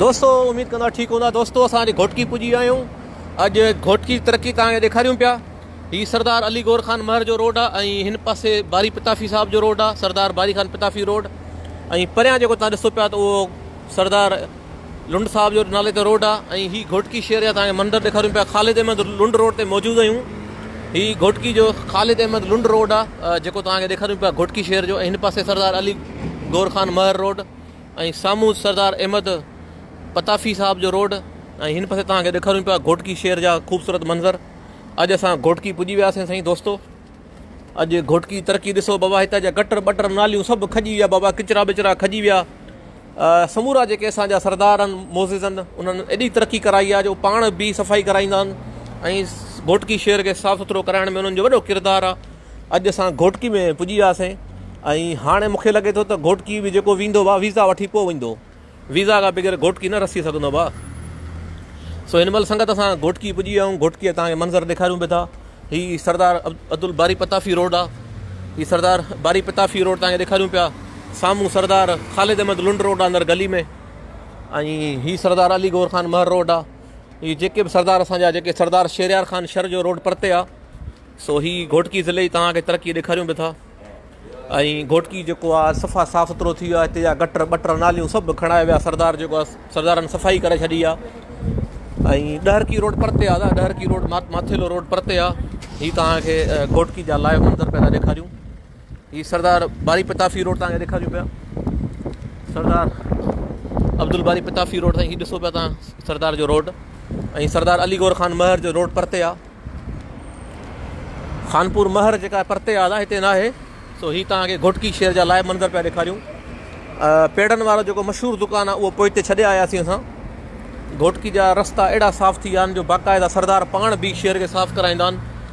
دوستو اميد ڪندو آهيان ٺيڪ هوندا دوستو اسان اڄ گهوٽڪي پڄي ويا آهيون اڄ گهوٽڪي ترقي توهان کي ڏيکاريون پيا هي سردار علي گور خان مهر جو روڊ آ ۽ هن پاسي باري پتافي صاحب جو روڊ آ سردار باري خان پتافي روڊ ۽ پريان جيڪو توهان ڏسو پيا ته اهو سردار لنڊ صاحب جو نالي تي روڊ آ ۽ هي گهوٽڪي شهر جا توهان کي مندر ڏيکاريون پيا خالد احمد لنڊ روڊ تي موجود آهيون هي گهوٽڪي جو خالد احمد لنڊ روڊ آ جيڪو توهان کي ڏيکاريون پيا گهوٽڪي شهر جو ۽ هن پاسي سردار علي گور خان مهر روڊ ۽ سامهون سردار احمد پتافي صاحب جو روڊ ۽ هن پاسي توهان کي ڏيکاريون پيا گهوٽڪي شهر جا خوبصورت منظر اڄ اسان گهوٽڪي پڄي وياسين سائين دوستو اڄ گهوٽڪي ترقي ڏسو بابا هتان جا گٽر بٽر ناليون سڀ کڄي ويا بابا کچرا بچرا کڄي ويا سمورا جيڪي اسان جا سردار آهن موزز آهن انهن ايڏي ترقي ڪرائي آ جو پاڻ بي صفائي ڪرائيندا آهن ۽ گهوٽڪي شهر کي صاف سٿرو ڪرائڻ ۾ انهن جو وڏو ڪردار آ اڄ اسان گهوٽڪي ۾ پڄي وياسين ۽ هاڻي مون کي لڳي ٿو ته گهوٽڪي به جيڪو ويندو وا ويزا وٺي پوء ويندو. ويزا کان بغير گهوٽڪي نه رسي سگهندو وا. سو هن مهل سنگت اسان گهوٽڪي پڄي ويا آهيون. گهوٽڪي جا توهان کي منظر ڏيکاريون به ٿا. هي سردار عبدالباري پتافي روڊ آهي. هي سردار باري پتافي روڊ توهان کي ڏيکاريون پيا. سامهون سردار خالد احمد لنڊ روڊ آهي اندر گلي ۾ ۽ هي سردار علي گور خان مهر روڊ آهي. هي جيڪي به سردار اسان جا جيڪي سردار شهريار خان شر جو روڊ پرتي آهي. سو هي گهوٽڪي ضلعي توهان کي ترقي ڏيکاريون به ٿا ۽ گهوٽڪي جيڪو آ صفا صاف سٿرو ٿي ويو آ هتي جا گٽر ٻٽر ناليون سڀ کڻائي ويا سردار جيڪو آ سردارن صفائي ڪري ڇڏي آ ۽ ڏهرڪي روڊ پرتي آ دا ڏهرڪي روڊ ماٿيلو روڊ پرتي آ هي توهان کي گهوٽڪي جا لائيو منظر پيدا ڏيکاريون هي سردار باري پتافي روڊ تان ڏيکاريون پيا سردار عبدل باري پتافي روڊ تائين هي ڏسو پيا تان سردار جو روڊ ۽ سردار علي گور خان مهر جو روڊ پرتي آ خانپور مهر جيڪا پرتي آ دا هتي نه آهي سو هي تان کي گهٽڪي شهر جا لائي منظر پيا ڏيکاريون پيڙن وارو جيڪو مشهور دڪان آ اهو پوئتي ڇڏي آيا سي اسان گهٽڪي جا رستا اهڙا صاف ٿي ويا آهن جو باقاعده سردار پاڻ به شهر کي صاف ڪرائيندا آهن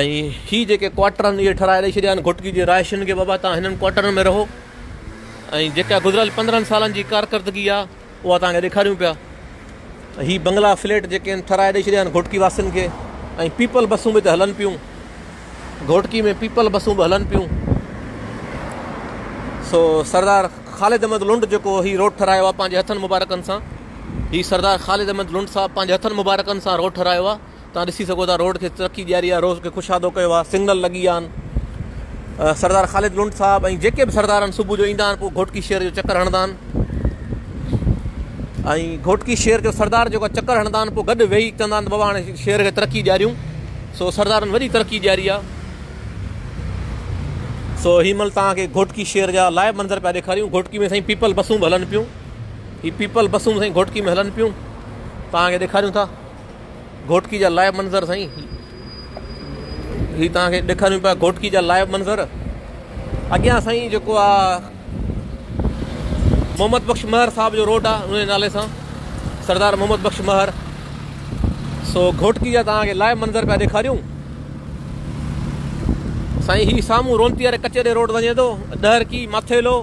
۽ هي جيڪي ڪوارٽرن اهي ٺهرائي ڏئي ڇڏيا آهن گهوٽڪي جي رهائشين کي بابا تان هنن ڪوارٽرن ۾ رهو ۽ جيڪا گذريل پندرهن سالن جي ڪارڪردگي آهي اها تان کي ڏيکاريون پيا هي بنگلا فليٽ جيڪي آهن ٺهرائي ڏئي ڇڏيا آهن گهوٽڪي واسين کي ۽ پيپل بسون به ته هلن پيون گهوٽڪي ۾ پيپل بسون به هلن پيون سو سردار خالد احمد لنڊ جيڪو هي روڊ ٺهرايو آهي پنهنجي هٿن مبارڪن سان هي سردار خالد احمد لنڊ صاحب پنهنجي هٿن مبارڪن سان روڊ ٺهرايو آهي توهان ڏسي سگهو ٿا روڊ کي ترقي ڏياري آهي روز کي خوشادو ڪيو آهي سگنل لڳي ويا آهن سردار خالد لنڊ صاحب ۽ جيڪي به سردار آهن صبح جو ايندا آهن پوء گهوٽڪي شهر جو چڪر هڻندا آهن ۽ گهوٽڪي شهر جو سردار جيڪو چڪر هڻندا آهن پوء گڏ ويهي چوندا آهن بابا هاڻي شهر کي ترقي ڏياريون سو سردارن وڏي ترقي ڏياري آهي سو هي مل تان کي گهوٽڪي شهر جا لائيو منظر پيا ڏيکاريون گهوٽڪي ۾ سائين پيپل بسون به هلن پيون هي پيپل بسون سائين گهوٽڪي ۾ هلن پيون تان کي ڏيکاريون ٿا گهوٽڪي جا لائيو منظر سائين هي توهان کي ڏيکاريون پيا گهوٽڪي جا لائيو منظر اڳيان سائين جيڪو آهي محمد بخش مهر صاحب جو روڊ آهي ان نالي سان سردار محمد بخش مهر سو گهوٽڪي جا توهان کي لائيو منظر پيا ڏيکاريون سائين هي سامهون رونتي واري ڪچهري روڊ وڃي ٿو ڏهرڪي ماٿيلو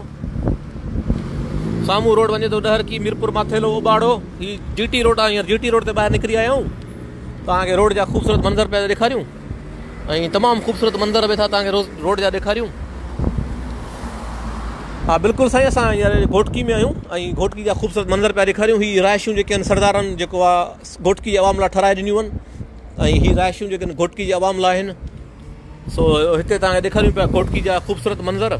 سامهون روڊ وڃي ٿو ڏهرڪي ميرپور ماٿيلو اوٻاڙو هي جي ٽي روڊ آهي هينئر جي ٽي روڊ تي ٻاهر نڪري آيا آهيون توهان کي روڊ جا خوبصورت منظر پيا ڏيکاريون ۽ تمام خوبصورت منظر به ٿا توهان کي روڊ جا ڏيکاريون ها بلڪل سائين اسان هينئر گهوٽڪي ۾ آهيون ۽ گهوٽڪي جا خوبصورت منظر پيا ڏيکاريون هي رهائشون جيڪي آهن سردارن جيڪو آهي گهوٽڪي جي عوام لاء ٺهرائي ڏنيون آهن ۽ هي رهائشون جيڪي آهن گهوٽڪي جي عوام لاء آهن سو هتي توهان کي ڏيکاريون پيا کوٽڪي جا خوبصورت منظر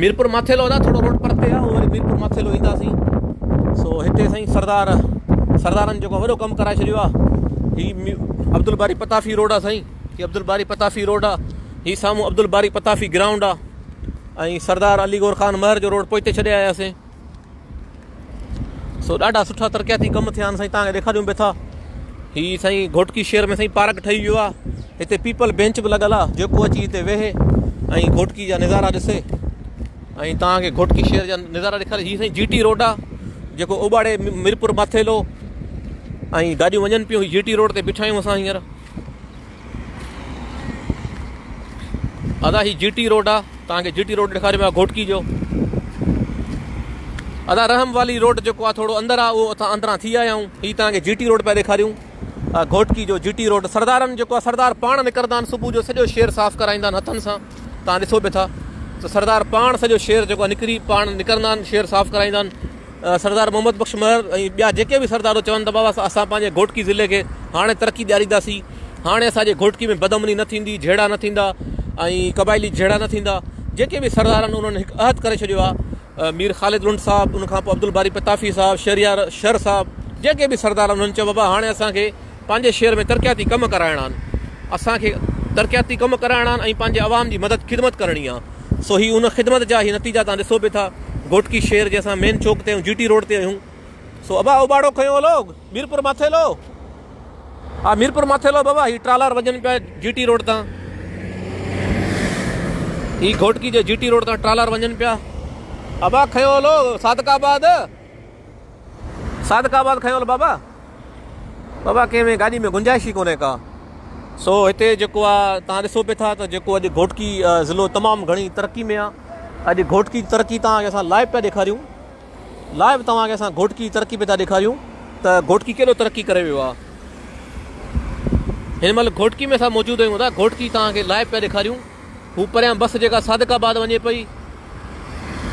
ميرپور ماٿيلو ادا ٿورو روڊ پرتي آ وري ميرپور ماٿيلو اينداسين سو هتي سائين سردار سردارن جيڪو وڏو ڪم ڪرائي ڇڏيو آ هي عبدالباري پتافي روڊ آ سائين هي عبدالباري پتافي روڊ آ هي سامو عبدالباري پتافي گرائونڊ آ سردار علي گور خان مهر جو روڊ پوئتي ڇڏي آياسين سو ڏاڍا سٺا ترقياتي ڪم ٿيا آهن سائين تان ڏيکاريون به ٿا هي سائين گهوٽڪي شهر ۾ سائين پارڪ ٺهي ويو آهي هتي پيپل بينچ به لڳل آهي جيڪو اچي هتي ويهي ۽ گهوٽڪي جا نظارا ڏسي ۽ تان کي گهوٽڪي شهر جا نظارا ڏيکاري هي سائين جي ٽي روڊ آهي جيڪو اوباڙي ميرپور ماٿيلو ۽ گاڏيون وڃن پيون جي ٽي روڊ تي بيٺا آهيون اسان هينئر ادا هي جي ٽي روڊ آ تان کي جي ٽي روڊ ڏيکاري ويا گھوٽڪي جو ادا رحم والي روڊ جيڪو آ ٿورو اندر آ او اٿا اندران ٿي آيا آهون هي تان کي جي ٽي روڊ پيا ڏيکاريون گھوٽڪي جو جي ٽي روڊ سردارن جيڪو آ سردار پاڻ نڪرندا آهن صبح جو سڄو شهر صاف ڪرائيندا آهن هٿن سان تان ڏسو به ٿا ته سردار پاڻ سڄو شهر جيڪو نڪري پاڻ نڪرندا آهن شهر صاف ڪرائيندا آهن سردار محمد بخش مهر ۽ ٻيا جيڪي به سردارو چون ته بابا اسان پنهنجي گهوٽڪي ضلعي کي هاڻي ترقي ڏيارينداسين هاڻي اسان جي گهوٽڪي ۾ بدامني نه ٿيندي جهيڙا نه ٿيندا ۽ قبائلي جهيڙا نه ٿيندا جيڪي به سردار آهن انهن هڪ عهد ڪري ڇڏيو آهي مير خالد لنڊ صاحب ان کان پوء عبدالباري پتافي صاحب شهريار شر صاحب جيڪي به سردار انهن چيو بابا هاڻي اسان کي پنهنجي شهر ۾ ترقياتي ڪم ڪرائڻا آهن، اسان کي ترقياتي ڪم ڪرائڻا آهن ۽ پنهنجي عوام جي مدد خدمت ڪرڻي آهي سو هي ان خدمت جا هي نتيجا توهان ڏسو به ٿا گهوٽڪي شهر جي اسان مين چوڪ تي آهيون جي ٽي روڊ تي آهيون سو ابا اوٻاڙو کنيو هو لوگ ميرپور ماٿيلو آ ميرپور ماٿيلو بابا هي ٽرالار وجن پيا جي ٽي روڊ تان هي گهوٽڪي جي جي ٽي روڊ تان ٽرالار وجن پيا ابا کنيو هو لوگ صادق آباد صادق آباد کنيو هل بابا. بابا ڪنهن ۾ گاڏي ۾ گنجائش ئي ڪونهي ڪا. سو هتي جيڪو آ توهان ڏسو پي ٿا ته جيڪو اڄ گهوٽڪي ضلعو تمام گهڻي ترقي ۾ آ. اڄ گهوٽڪي جي ترقي توهان کي اسان لائيو پيا ڏيکاريون. لائيو توهان کي اسان گهوٽڪي جي ترقي پي ٿا ڏيکاريون ته گهوٽڪي ڪيڏو ترقي ڪري ويو آ. هن مهل گهوٽڪي ۾ اسان موجود آهيون ته گهوٽڪي توهان کي لائيو پيا ڏيکاريون. هو پريان بس جيڪا صادق آباد وڃي پئي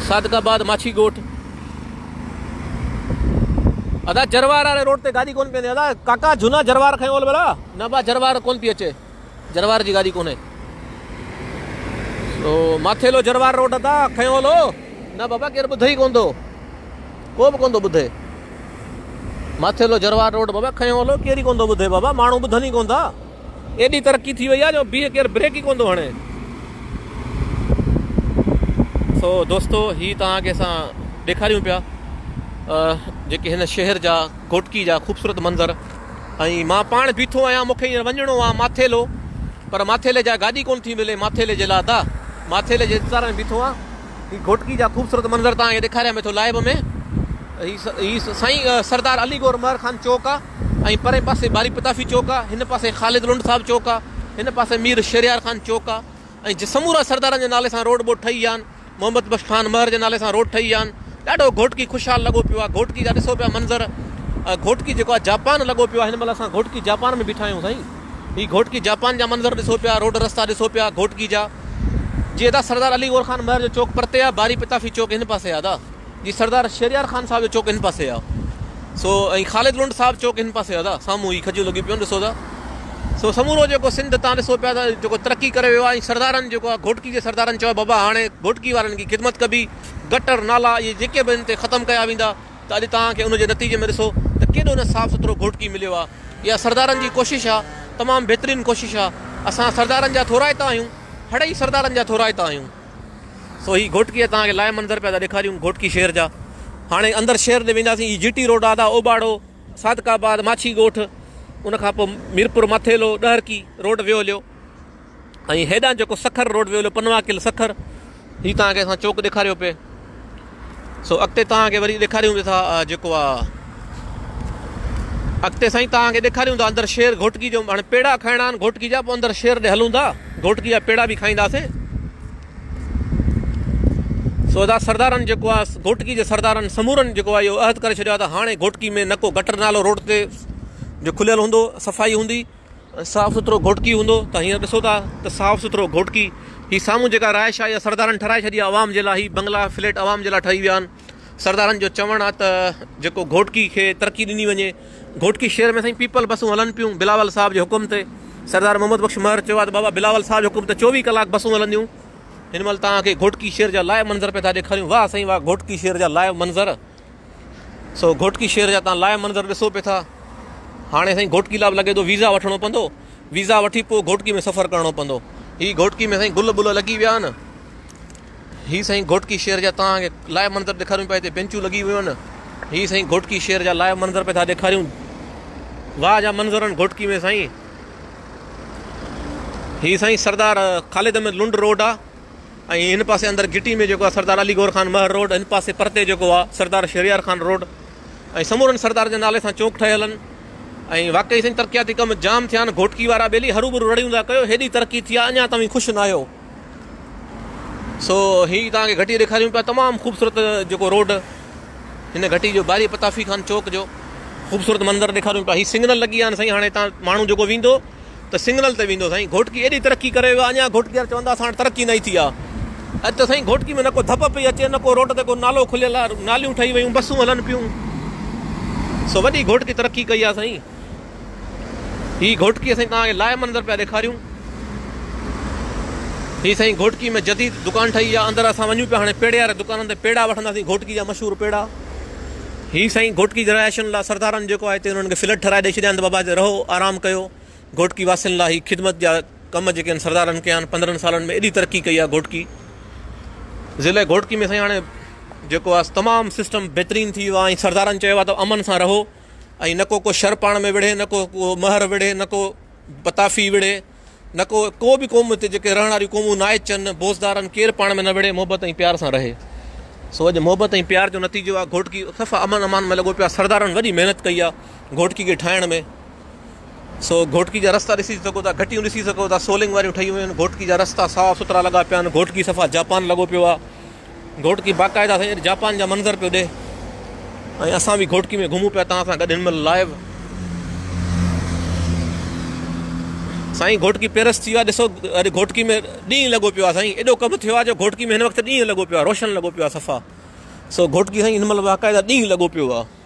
صادق آباد ماڇي ڳوٺ. ادا جروار واري روڊ تي گاڏي ڪون پي ادا ڪاڪا جھونا جروار کي اول بلا نه با جروار ڪون پي اچي جروار جي گاڏي ڪونه سو ماٿيلو جروار روڊ ادا کي اول هو نه بابا ڪير ٻڌي ڪون ٿو ڪو به ڪون ٿو ٻڌي ماٿيلو جروار روڊ بابا کي اول ڪير ڪون ٿو ٻڌي بابا ماڻهو ٻڌن ئي ڪون ٿا ايڏي ترقي ٿي وئي آهي جو بيهه ڪير بريڪ ئي ڪونه ٿو هڻي. سو دوستو هي توهان کي اسان ڏيکاريون پيا جيڪي هن شهر جا گهوٽڪي جا خوبصورت منظر ۽ مان پاڻ بيٺو آهيان مونکي هينئر وڃڻو آهي ماٿيلو پر ماٿيلي جا گاڏي ڪونه ٿي ملي ماٿيلي جي لاء ته ماٿيلي جي انتظار ۾ بيٺو آهيان هي گهوٽڪي جا خوبصورت منظر توهان کي ڏيکاريان پيو ٿو لائيو ۾ هي سائين سردار علي گور مهر خان چوڪ آهي. ۽ پرئين پاسي باري پتافي چوڪ آ، هن پاسي خالد لنڊ صاحب چوڪ آ، هن پاسي مير شهريار خان چوڪ آ ۽ جي سمورا سردارن جي نالي سان روڊ ٻوڊ ٺهي ويا آهن، محمد بخش خان مهر جي نالي سان روڊ ٺهي ويا آهن، ڏاڍو گهوٽڪي خوشحال لڳو پيو آ، گهوٽڪي جا ڏسو پيا منظر، گهوٽڪي جيڪو آ جاپان لڳو پيو آ، هن مهل اسان گهوٽڪي جاپان ۾ بيٺا آهيون سائين، هي گهوٽڪي جاپان جا منظر ڏسو پيا، روڊ رستا ڏسو پيا گهوٽڪي جا، جي ادا سردار علي گور خان مهر جو چوڪ پرتي آ، باري پتافي چوڪ هن پاسي آ ادا. جي سردار شهريار خان صاحب جو چوڪ هن پاسي آ سو ۽ خالد لنڊ صاحب چوڪ هن پاسي آ دا سامهون هي کجيون لڳيون پيون ڏسو دا سو سمورو جيڪو سنڌ تان ڏسو پيا دا جيڪو ترقي ڪري ويو آ ۽ سردارن جيڪو آ گهوٽڪي جي سردارن چيو بابا هاڻي گهوٽڪي وارن جي خدمت ڪبي گٽر نالا اهي جيڪي به هن تي ختم ڪيا ويندا ته اڄ توهان کي ان جي نتيجي ۾ ڏسو ته ڪيڏو نه صاف سٿرو گهوٽڪي مليو آ اها سردارن جي ڪوشش آ تمام بهترين ڪوشش آ اسان سردارن جا ٿورائتا آهيون هڙئي سردارن جا ٿورائتا آهيون. سو هي گهوٽڪي ۽ توهان کي لائيو منظر پيا ٿا ڏيکاريون گهوٽڪي شهر جا هاڻي اندر شهر ڏي وينداسين هي جي ٽي روڊ آدا اوٻاڙو صادق آباد ماڇي ڳوٺ ان کان پوء ميرپور مٿيلو ڏهرڪي روڊ ويو هليو ۽ هيڏانهن جيڪو سکر روڊ ويو هليو پنواڪل سکر هي توهان کي اسان چوڪ ڏيکاريو پئي سو اڳتي توهان کي وري ڏيکاريون به ٿا جيڪو آ اڳتي سائين توهان کي ڏيکاريون ٿا اندر شير گهوٽڪي جو هاڻي پيڙا کائڻا آهن گهوٽڪي جا پوء اندر شير ڏي هلون ٿا گهوٽڪي جا پيڙا به کائينداسين سو ادا سردارن جيڪو آهي گهوٽڪي جي سردارن سمورن جيڪو آهي اهو عهد ڪري ڇڏيو آهي ته هاڻي گهوٽڪي ۾ نڪو گٽر نالو روڊ تي جو کليل هوندو صفائي هوندي صاف سٿرو گهوٽڪي هوندو ته هينئر ڏسو ٿا ته صاف سٿرو گهوٽڪي هي سامهون جيڪا رهائش آهي اها سردارن ٺهرائي ڇڏي آهي عوام جي لاء هي بنگلا فليٽ عوام جي لاء ٺهي ويا آهن سردارن جو چوڻ آهي ته جيڪو گهوٽڪي کي ترقي ڏني وڃي گهوٽڪي شهر ۾ سائين پيپل بسون هلن پيون بلاول صاحب جي حڪم تي سردار محمد بخش مهر چيو آهي ته بابا بلاول صاحب جي حڪم تي چوويهه ڪلاڪ بسون هلنديون هن مهل توهان کي گهوٽڪي شهر جا لائيو منظر پئي ٿا ڏيکاريون واهه سائين واهه گهوٽڪي شهر جا لائيو منظر سو گهوٽڪي شهر جا تان لائيو منظر ڏسو پي ٿا. هاڻي سائين گهوٽڪي لا به لڳي ٿو ويزا وٺڻو پوندو. ويزا وٺي پو گهوٽڪي ۾ سفر ڪرڻو پوندو. هي گهوٽڪي ۾ سائين گل بل لڳي ويا آهن. هي سائين گهوٽڪي شهر جا تان کي لائيو منظر ڏيکاريون پيا هتي بينچون لڳي ويون آهن. هي سائين گهوٽڪي شهر جا لائيو منظر پي ٿا ڏيکاريون. واهه جا منظر آهن گهوٽڪي ۾ سائين. هي سائين سردار خالد احمد لنڊ روڊ آ. ۽ هن پاسي اندر گهٽي ۾ جيڪو آهي سردار علي گور خان مهر روڊ هن پاسي پرتي جيڪو آهي سردار شهريار خان روڊ ۽ سمورن سردار جي نالي سان چونڪ ٺهيل آهن ۽ واقعي سائين ترقياتي ڪم جام ٿيا آهن گهوٽڪي وارا ٻيلي هروڀرو رڙيون ٿا ڪيو هيڏي ترقي ٿي آهي اڃا توهين خوش ناهيو سو هي توهان کي گهٽي ڏيکاريون پيا تمام خوبصورت جيڪو روڊ هن گهٽي جو باري پتافي خان چوڪ جو خوبصورت منظر ڏيکاريون پيا هي سگنل لڳي ويا آهن سائين هاڻي هتان ماڻهو جيڪو ويندو ته سنگنل تي ويندو سائين گهوٽڪي ايڏي ترقي ڪري ويو آ اڃان گهوٽڪي وارا چون ٿا اسان وٽ ترقي ناهي ٿي آ اڄ ته سائين گهوٽڪي ۾ نه ڪو ڌپ پئي اچي نه ڪو روڊ تي ڪو نالو کليل آ ناليون ٺهي ويون بسون هلن پيون سو وڏي گهوٽڪي ترقي ڪئي آ سائين هي گهوٽڪي سائين توهان کي لائيو منظر پيا ڏيکاريون هي سائين گهوٽڪي ۾ جديد دڪان ٺهي آ اندر اسان وڃون پيا هاڻي پيڙي واري دڪانن تي پيڙا وٺنداسين گهوٽڪي جا مشهور پيڙا. هي سائين گهوٽڪي جراياشن لا سردارن جيڪو آهي تي انهن کي فليٽ ٺهرائي ڏئي ڇڏيان ته بابا هتي رهو آرام ڪيو گهوٽڪي واسين لا هي خدمت جا ڪم جيڪي ان سردارن ڪيا آهن پندرهن سالن ۾ ايڏي ترقي ڪئي آهي گهوٽڪي ضلع گهوٽڪي ۾ سائين هاڻي جيڪو آهي تمام سسٽم بهترين ٿي ويو آهي ۽ سردارن چيو آهي ته امن سان رهو ۽ نڪو ڪو شر پاڻ ۾ وڙهي نڪو ڪو مهر وڙهي نڪو پتافي وڙهي نڪو ڪو به قوم هتي جيڪي رهڻ واريون قومون نائچن، بوزدارن، ڪير پاڻ ۾ نه وڙهي محبت ۽ پيار سان رهي. سو اڄ محبت ۽ پيار جو نتيجو آ گهوٽڪي صفا امن امان ۾ لڳو پيو آ سردارن وڏي محنت ڪئي آ گهوٽڪي کي ٺاهڻ ۾ سو گهوٽڪي جا رستا ڏسي سگهو ٿا گهٽيون ڏسي سگهو ٿا سولنگ واريون ٺهيون ويون آهن گهوٽڪي جا رستا صاف سٿرا لڳا پيا آهن گهوٽڪي صفا جاپان لڳو پيو آ. گهوٽڪي باقاعده سيد جاپان جا منظر پيو ڏي ۽ اسان به گهوٽڪي ۾ گهمون پيا توهان سان گڏ هن مهل لائيو سائين گهوٽڪي پيرس ٿي ويو آهي ڏسو اڄ گهوٽڪي ۾ ڏينهن لڳو پيو آهي سائين ايڏو ڪم ٿيو آهي جو گهوٽڪي ۾ هن وقت ڏينهن لڳو پيو آهي روشن لڳو پيو آهي صفا سو گهوٽڪي سائين هن مهل باقاعده ڏينهن لڳو پيو آهي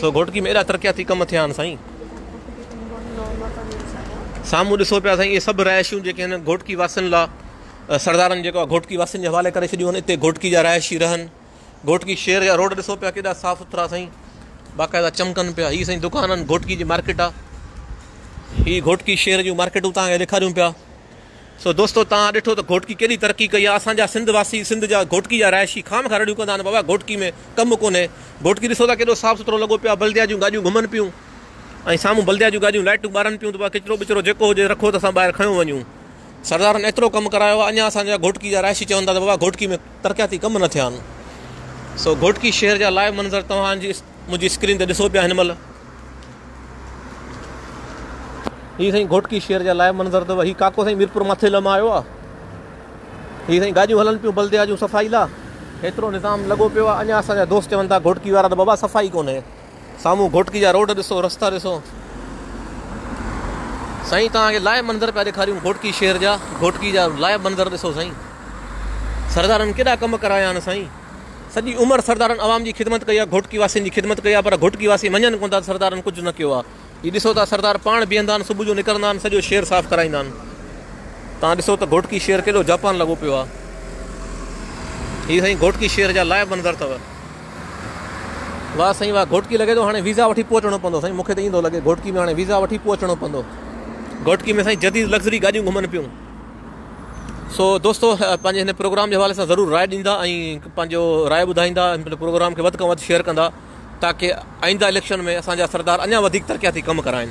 سو گهوٽڪي ۾ ايڏا ترقياتي ڪم ٿيا آهن سائين. سامهون ڏسو پيا سائين اهي سڀ رهائشيون جيڪي هن گهوٽڪي واسين لا سردارن جيڪو گهوٽڪي واسين جي حوالي ڪري ڇڏيون آهن اتي گهوٽڪي جا رهائشي رهن گهوٽڪي شهر جا روڊ ڏسو پيا ڪيڏا صاف سٿرا سائين باقاعده چمڪن پيا هي سائين دڪانن گهوٽڪي جي مارڪيٽ آ هي گهوٽڪي شهر جون مارڪيٽون تان ڏيکاريون پيا سو دوستو توهان ڏٺو ته گهوٽڪي ڪيڏي ترقي ڪئي آهي. اسان جا سنڌ واسي، سنڌ جا گهوٽڪي جا رهائشي خامخا رڙيون ڪندا آهن بابا گهوٽڪي ۾ ڪم ڪونهي. گهوٽڪي ڏسو ٿا ڪيڏو صاف سٿرو لڳو پيو آهي. بلديا جون گاڏيون گهمن پيون ۽ سامهون بلديا جون گاڏيون لائٽون ٻارن پيون ته بابا ڪچرو ٻچرو جيڪو هجي رکو ته اسان ٻاهر کڻيو وڃون. سردارن ايترو ڪم ڪرايو آهي اڃا اسان جا گهوٽڪي جا رهائشي چون ٿا ته بابا گهوٽڪي ۾ ترقياتي ڪم نه ٿيا آهن. سو گهوٽڪي شهر جا لائيو منظر توهان جي. منهنجي اسڪرين تي ڏسو پيا هن مهل هي سائين گهوٽڪي شهر جا لائيو منظر اٿو هي ڪاڪو سائين ميرپور ماٿيل مان آيو آهي هي سائين گاڏيون هلن پيون بلديا جون صفائي لا هيترو نظام لڳو پيو آهي اڃا اسان جا دوست چون ٿا گهوٽڪي وارا ته بابا صفائي ڪونهي سامهون گهوٽڪي جا روڊ ڏسو رستا ڏسو سائين توهان کي لائيو منظر پيا ڏيکاريون گهوٽڪي شهر جا گهوٽڪي جا لائيو منظر ڏسو سائين سردارن ڪيڏا ڪم ڪرايا آهن سائين سڄي عمر سردارن عوام جي خدمت ڪئي آ گهوٽڪي واسين جي خدمت ڪئي آ پر گهوٽڪي واسي مڃن ڪونه ٿا ته سردارن ڪجهه نه ڪيو آ جي ڏسو ٿا سردار پاڻ بيهندا آهن صبح جو نڪرندا آهن سڄو شهر صاف ڪرائيندا آهن تان ڏسو ته گهوٽڪي شهر ڪيڏو جاپان لڳو پيو آ هي سائين گهوٽڪي شهر جا لائيو منظر اٿو واهه سائين واهه گهوٽڪي لڳي ٿو هاڻي ويزا وٺي پوء اچڻو پوندو سائين مونکي ته ايئن ٿو لڳي گهوٽڪي ۾ هاڻي ويزا وٺي پوء اچڻو پوندو گهوٽڪي ۾ سائين جديد لگزري گاڏيون گهمن پيون سو دوستو پنهنجي هن پروگرام جي حوالي سان ضرور راء ڏيندا ۽ پنهنجو راء ٻڌائيندا هن پروگرام کي وڌ کان وڌ شيئر ڪندا تاڪي آئنده اليڪشن ۾ اسان جا سردار اڃا وڌيڪ ترقياتي ڪم ڪرائين